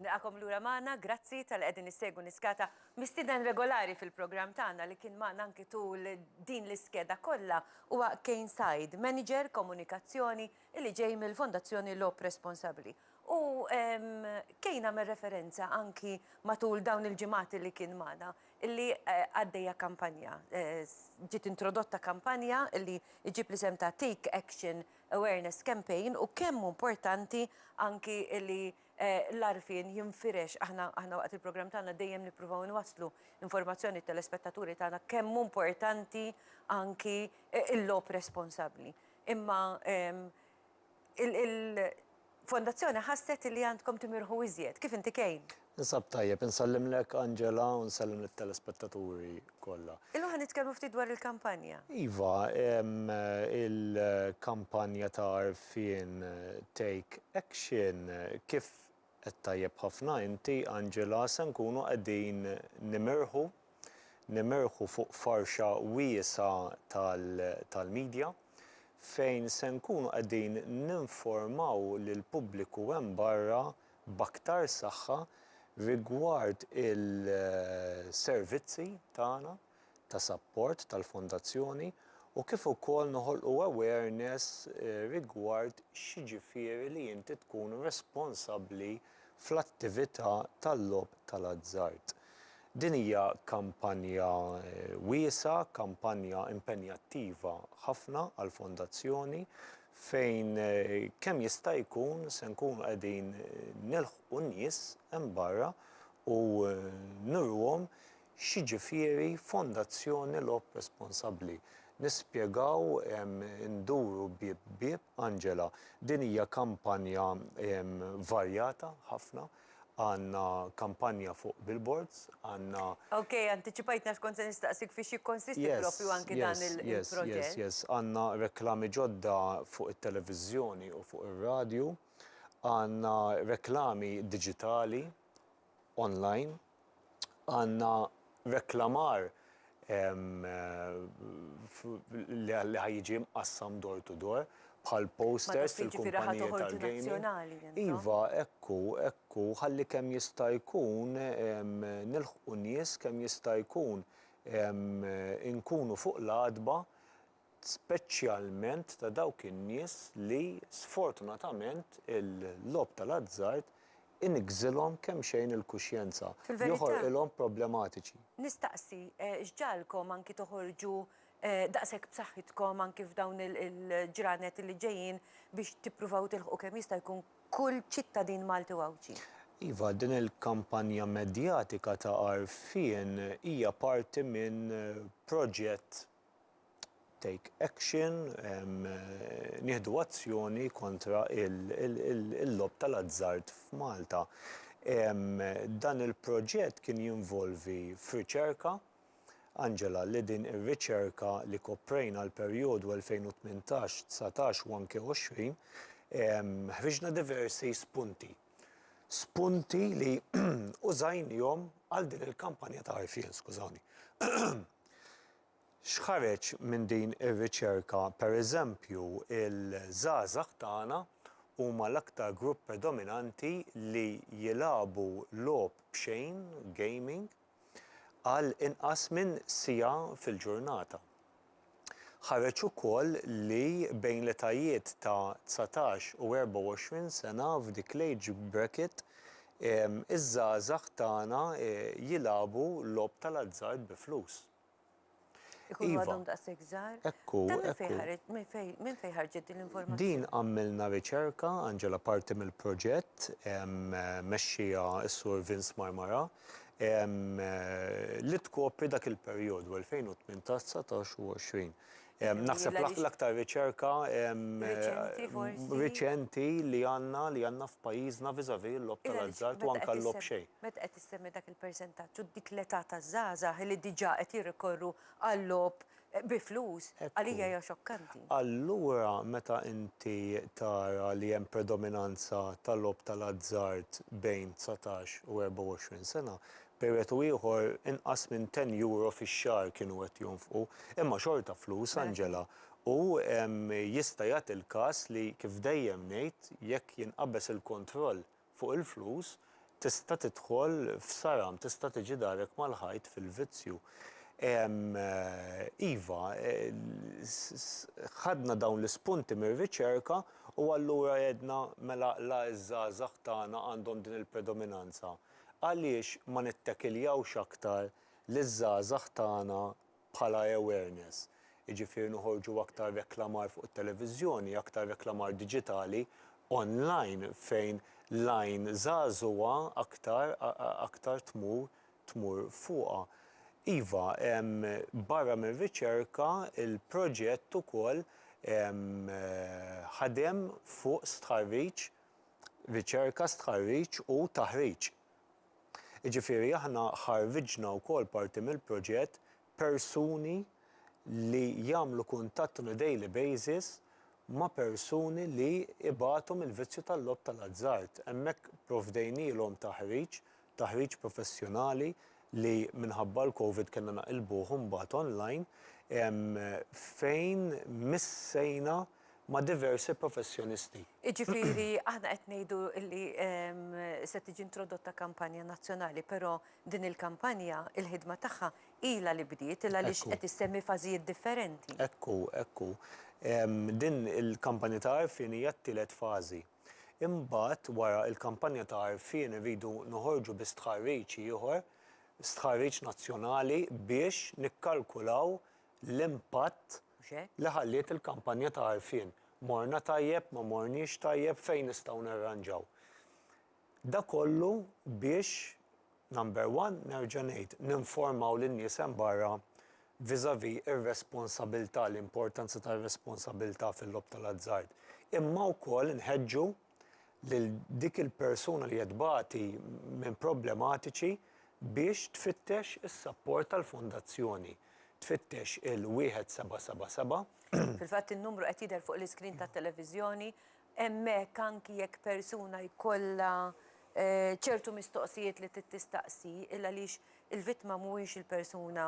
Nilqagħkom lura magħna, grazzi talli qegħdin issegwu Niskata. Mistieden regolari fil-programm tagħna li kien magħna anki tul din l-iskeda kollha huwa Kane Said, Manager Komunikazzjoni li ġej mill-Fondazzjoni Logħob Responsabbli. U Kane għamel referenza anki matul dawn il-ġimgħat li kien magħna li għaddejja kampanja, ġiet introdotta kampanja li ġġib l-isem ta' Take Action awareness campaign u kemm hu importanti anki li l-għarfien jinfirex. Aħna aħna waqt il-programm tagħna dejjem nippruvaw inwasslu informazzjoni t-telespettaturi tagħna kemm hu importanti anki l-logħob responsabbli. Imma il Fondazzjoni ħasset li għandkom timirħu iżjed. Kif inti Kane? Ninsab tajjeb. Insellimlek Angela u nsellem lit-telespettaturi kollha. Illum ħa nitkellmu ftit dwar il-kampanja. Iva, il-kampanja ta' għarfien Take Action, kif għedt tajjeb ħafna inti Angela, se nkunu qegħdin nimirħu Nimerħu fuq farxa wiesgħa tal-midja fejn se nkunu qegħdin ninformaw lill-pubbliku hemm barra b'aktar saħħa rigward il-servizzi tagħna ta' sapport tal-Fondazzjoni u kif ukoll noħolqu awareness rigward x'jiġifieri li inti tkun responsabbli fl-attività tal-logħob tal-azzard. Din hija kampanja wiesgħa, kampanja impenjattiva ħafna għall-Fondazzjoni fejn kemm jista' jkun se nkunu qegħdin nilħqu n-nies hemm barra u nuruhom X'jiġifieri fondazzjoni logħob responsabbli? Nispjegaw induru bieb bieb, Angela. Din hija kampanja varjata ħafna. Għandna kampanja fuq billboards, għandna. Ok, antiċipajtni għax kont se nistaqsik fiex jikkonsisti proprju anki dan il-proġett. Yes, yes, yes. Għandna reklami ġodda fuq it-televiżjoni u fuq ir-radju. Għandna reklami diġitali online, għandna reklamar li ħa jiġi mqassam door to door bħal posters fil-kumpaniji tal-gaming. Iva, hekk hu, hekk hu, ħalli kemm jista' jkun nilħqu nies, kemm jista' jkun inkunu fuq l-għatba speċjalment ta' dawk in-nies li sfortunatament il-logħob tal-azzard iniggżilhom kemxejn il-kuxjenza, joħorqilhom problematiċi. Nistaqsi, x'ġagħalkom anki toħorġu daqshekk b'saħħitkom anki f'dawn il-ġranet li ġejjin biex tippruvaw tilħqu kemm jista' jkun kull ċittadin Malti u Għawdxi? Iva, din il-kampanja medjatika ta' għarfien hija parti minn proġett take action, nieħdu azzjoni kontra l-logħob tal-azzard f'Malta. Dan il-proġett kien jinvolvi f'riċerka, Angela, li din ir-riċerka li koprejna għall-perjodu 2018, dsatax u anke għoxrin, ħriġna diversi spunti. spunti li użajnihom għal din il-kampanja ta' għarfien, skużawni. X'ħareġ minn din ir-riċerka, pereżempju, il-żgħażagħ tagħna huma l-aktar grupp predominanti li jilagħbu logħob b'xejn, gaming, għal inqas minn siegħa fil-ġurnata. Ħareġ ukoll li bejn l-etajiet ta' dsatax u 24 sena f'dik l-age bracket iż-żgħażagħ tagħna jilagħbu logħob tal-azzard bi flus. Ikunu Iva. għadhom daqshekk żgħar. Hekk hu, Dan minn hekk fejn hu. ħareġ- minn fejn- minn fejn ħarġet din l-informazzjoni? Din għamilna riċerka, Angela, parti mill-proġett em, mexxija s-Sur Vince Marmara, em, li tkopri dak il-perjodu 2018, 19 u 20. Naħseb l-aktar riċerka riċenti li għandna li għandna f'pajjiżna vis-à-vis il-logħob tal-azzard u anke l-logħob xejn. Meta qed issemmi dak il-persentaġġ u dik l-età taż-żgħażagħ li diġà qed jirrikorru għal-logħob bi flus, għalija hija xokkanti. Allura meta inti tara li hemm predominanza tal-logħob tal-azzard bejn dsatax u 24 sena, Perijodu ieħor inqas minn ten euro fix-xahar kienu qed jonfqu. Imma xorta flus, Angela. U jista' jagħti l-każ li, kif dejjem ngħid, jekk jinqabeż il-kontroll fuq il-flus, tista' tidħol f'saram, tista' tiġi darek mal-ħajt fil-vizzju. Iva, ħadna dawn l-ispunti mir-riċerka u allura għedna mela la ż-żgħażagħ tagħna għandhom din il-predominanza. Għaliex ma nittakiljawx aktar liż-żgħażagħ tagħna bħala awareness? Jiġifieri noħorġu aktar reklamar fuq it-televiżjoni, aktar reklamar diġitali, online, fejn l-għajn żagħżugħa aktar aktar tmur tmur fuqha. Iva, barra mir-riċerka, il-proġett ukoll ħadem fuq stħarriġ, riċerka, stħarriġ u taħriġ. Jiġifieri aħna ħarrġna wkoll parti mill-proġett persuni li jagħmlu kuntatt on a daily basis ma' persuni li ibatu mill-vizzju tal-logħob tal-azzard. Hemmhekk provdejnielhom taħriġ taħriġ professjonali li minħabba l-Covid kellna naqilbuh imbagħad online, fejn missejna ma' diversi professjonisti. Jiġifieri aħna qed ngħidu li se tiġi introdotta kampanja nazzjonali, però din il-kampanja, il-ħidma tagħha ilha li bdiet, ilha li qed issemmi fażijiet differenti. Hekk hu, hekk hu. Din il-kampanja ta' għarfien hija t-tielet fażi. Imbagħad wara l-kampanja ta' għarfien irridu noħorġu bi stħarriġ ieħor, stħarriġ nazzjonali biex nikkalkulaw l-impatt li ħalliet il-kampanja ta' għarfien. Morna tajjeb, ma morniex tajjeb, fejn nistgħu narranġaw. Dak kollu biex Number one, nerġa' ngħid, ninformaw lin-nies hemm barra vis-à-vis ir-responsabilità, l-importanza tar-responsabilità fil-logħob tal-azzard. Imma wkoll nħeġġu lil dik il-persuna li qed tbati minn problematiċi biex tfittex is-sapport tal-Fondazzjoni, tfittex il-1777. Fil-fatt in-numru qed jidher fuq l-iskrin tat-televiżjoni. Hemmhekk anki jekk persuna jkollha ċertu mistoqsijiet li trid tistaqsi il-għaliex il-vittma mhuwiex il-persuna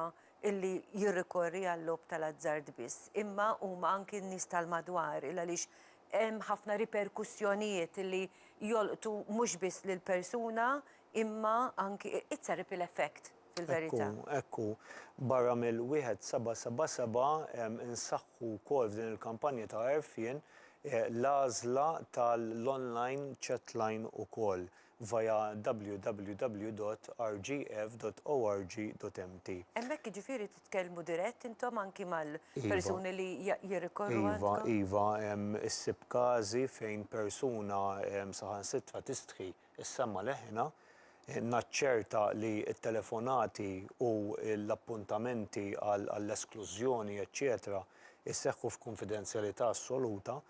illi jirrikorri għal-logħob tal-azzard biss imma huma anki n-nies tal-madwar il-għaliex hemm ħafna riperkussjonijiet illi jolqtu mhux biss lill-persuna imma anki it's a ripple effect. fil-verità. Hekk hu, hekk hu. Barra mill-1777, insaħħu wkoll f'din il-kampanja ta' għerfien l-għażla tal-online chatline ukoll via www.rgf.org.mt. Hemmhekk jiġifieri titkellmu dirett intom anki mal-persuni li jirrikorru għandkom? Iva, iva. Issib każi fejn persuna saħansitra tistħi Is-semma leħna, Naċċerta li t-telefonati u l-appuntamenti għall-esklużjoni, eċċetera jseħħu f'kunfidenzjalità assoluta,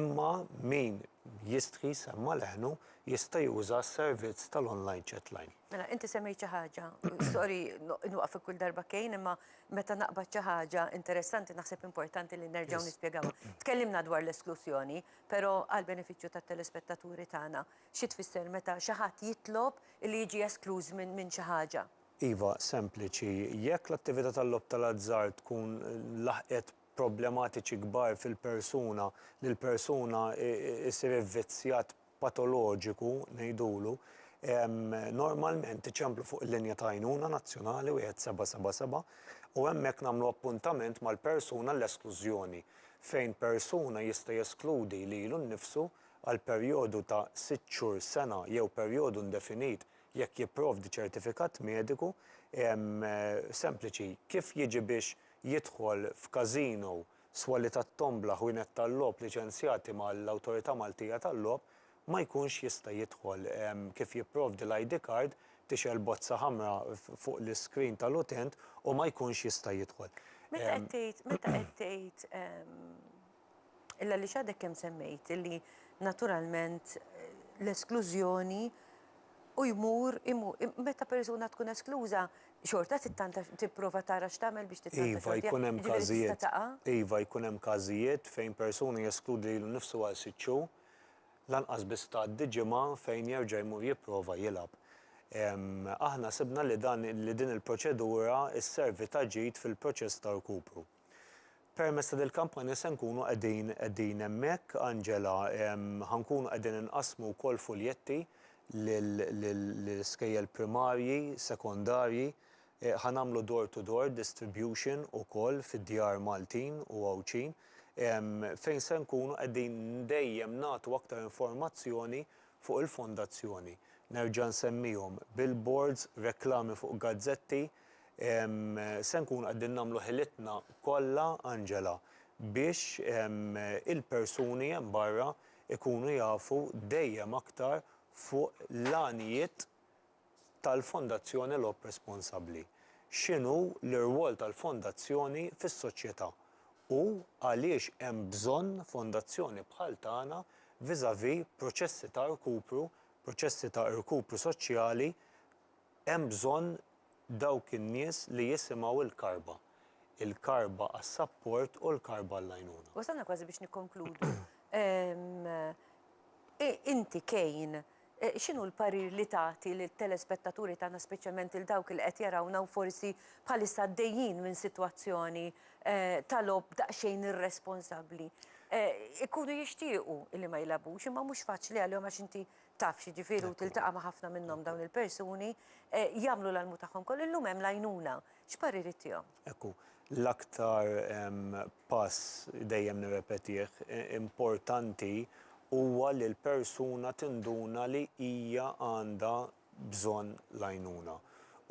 imma min jistħi jsemma leħnu jista' juża s-servizz tal-online chatline. Mela, inti semmejt xi ħaġa, sorry inwaqfek kull darba Kane, imma meta naqbad xi ħaġa interessanti naħseb importanti li nerġgħu nispjegawha. Tkellimna dwar l-esklużjoni, Però għall-benefiċċju tat-telespettaturi tagħna, xi tfisser meta xi ħadd jitlob li jiġi eskluż minn xi ħaġa? Iva, sempliċi. Jekk l-attività tal-logħob tal-azzard tkun laħqet problematiċi kbar fil-persuna, li l-persuna ssir ivvizzjat patoloġiku ngħidulu, normalment iċemplu fuq il-linja ta' għajnuna nazzjonali 1777 u hemmhekk nagħmlu appuntament mal-persuna għall-esklużjoni. fejn persuna jista' jeskludi lilu nnifsu għal perjodu ta' sitt xhur, sena jew perjodu indefinit jekk jipprovdi ċertifikat mediku sempliċi kif jiġi biex jidħol f'każino, swali tat-tombla, ħwienet tal-logħob liċenzjati mal-Awtorità Maltija tal-Logħob ma jkunx jista' jidħol. Kif jipprovdi l-ID card, tixgħel bozza ħamra fuq l-iskrin tal-utent u ma jkunx jista' jidħol. Meta qed tgħid, meta qed tgħid, illa għaliex għadek kemm semmejt illi naturalment l-esklużjoni u jmur, meta persuna tkun eskluża xorta tittanta tipprova tara x'tagħmel biex tittanta xorta tiegħek, jiġifieri tista' taqa'? Iva, jkun hemm każijiet fejn persuna jeskludi lilu nnifsu għal sitt xhur. Lanqas biss tgħaddi ġimgħa fejn jerġa' jmur jipprova jilgħab. Aħna sibna li dan li din il-proċedura sservi ta' ġid fil-proċess ta' rkupru. Permezz ta' dil-kampanja se nkunu qegħdin qegħdin hemmhekk, Angela, ħa nkunu qegħdin inqassmu wkoll fuljetti lil lil iskejjel primarji, sekondarji, Ħa nagħmlu door to door distribution ukoll fid-djar Maltin u Għawdxin fejn se nkunu qegħdin dejjem nagħtu aktar informazzjoni fuq il-Fondazzjoni. Nerġa' nsemmihom, billboards, reklami fuq gazzetti, se nkunu qegħdin nagħmlu ħilitna kollha, Angela, biex il-persuni hemm barra jkunu jafu dejjem aktar fuq l-għanijiet tal-Fondazzjoni Logħob Responsabbli, x'inhu l-irwol tal-Fondazzjoni fis-soċjetà u għaliex hemm bżonn Fondazzjoni bħal tagħna vis-à-vis proċessi ta' rkupru, proċessi ta' irkupru soċjali, hemm bżonn dawk in-nies li jisimgħu l-karba, il-karba għas-sapport u l-karba għall-għajnuna. Wasalna kważi biex nikkonkludu. Inti Kane X'inhu l-parir li tagħti lit-telespettaturi tagħna speċjalment lil dawk li qed jarawna u forsi bħalissa għaddejjin minn sitwazzjoni ta' logħob daqsxejn irresponsabbli? Ikunu jixtiequ li ma jilgħabux imma mhux faċli għalihom għax inti taf x'jiġifieri u tiltaqa' ma' ħafna minnhom dawn il-persuni, jagħmlu l-almu tagħhom kollu. Illum hemm l-għajnuna. X'parir ittihom? Hekk hu. L-aktar pass, dejjem nirrepetih, importanti huwa li l-persuna tinduna li hija għandha bżonn l-għajnuna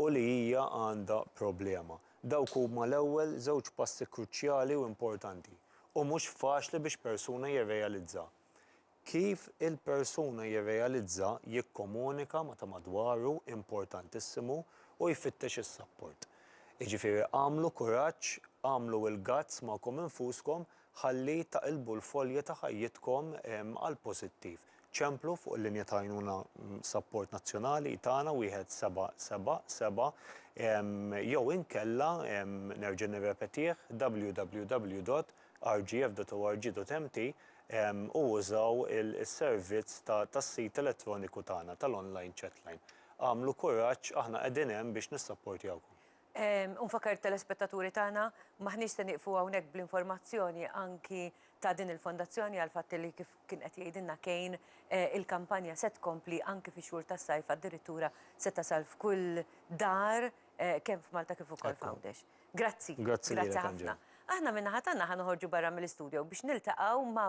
u li hija għandha problema. Dawk huma l-ewwel żewġ passi kruċjali u importanti u mhux faċli biex persuna jirrealizza Kif il-persuna jirrealizza jikkomunika ma' ta' madwaru importantissimu u jfittex is-sapport. Jiġifieri għamlu kuraġġ, għamlu il-guts magħkom infuskom ħalli taqilbu l-folja ta' ħajjitkom għall-pożittiv. Ċemplu fuq il-linja ta' għajnuna sapport nazzjonali tagħna wieħed seba' seba' seba' jew inkella nerġa' nirrepetih www. rgf.org.mt u użaw is-servizz tas-sit elettroniku tagħna tal-online chatline. Agħmlu kuraġġ, aħna qegħdin hemm biex nissapportjawkom. U nfakkar it-telespettaturi tagħna, m'aħniex se nieqfu hawnhekk bl-informazzjoni anki ta' din il-Fondazzjoni għall-fatt li kif kien qed jgħidilna Kane, il-kampanja se tkompli anki fix-xhur tas-sajf addirittura se tasal f'kull dar kemm f'Malta kif ukoll f'Għawdex. Grazzi. Grazzi lilek Angela. Grazzi ħafna. Aħna min-naħa tagħna ħa noħorġu barra mill-istudio biex niltaqgħu ma'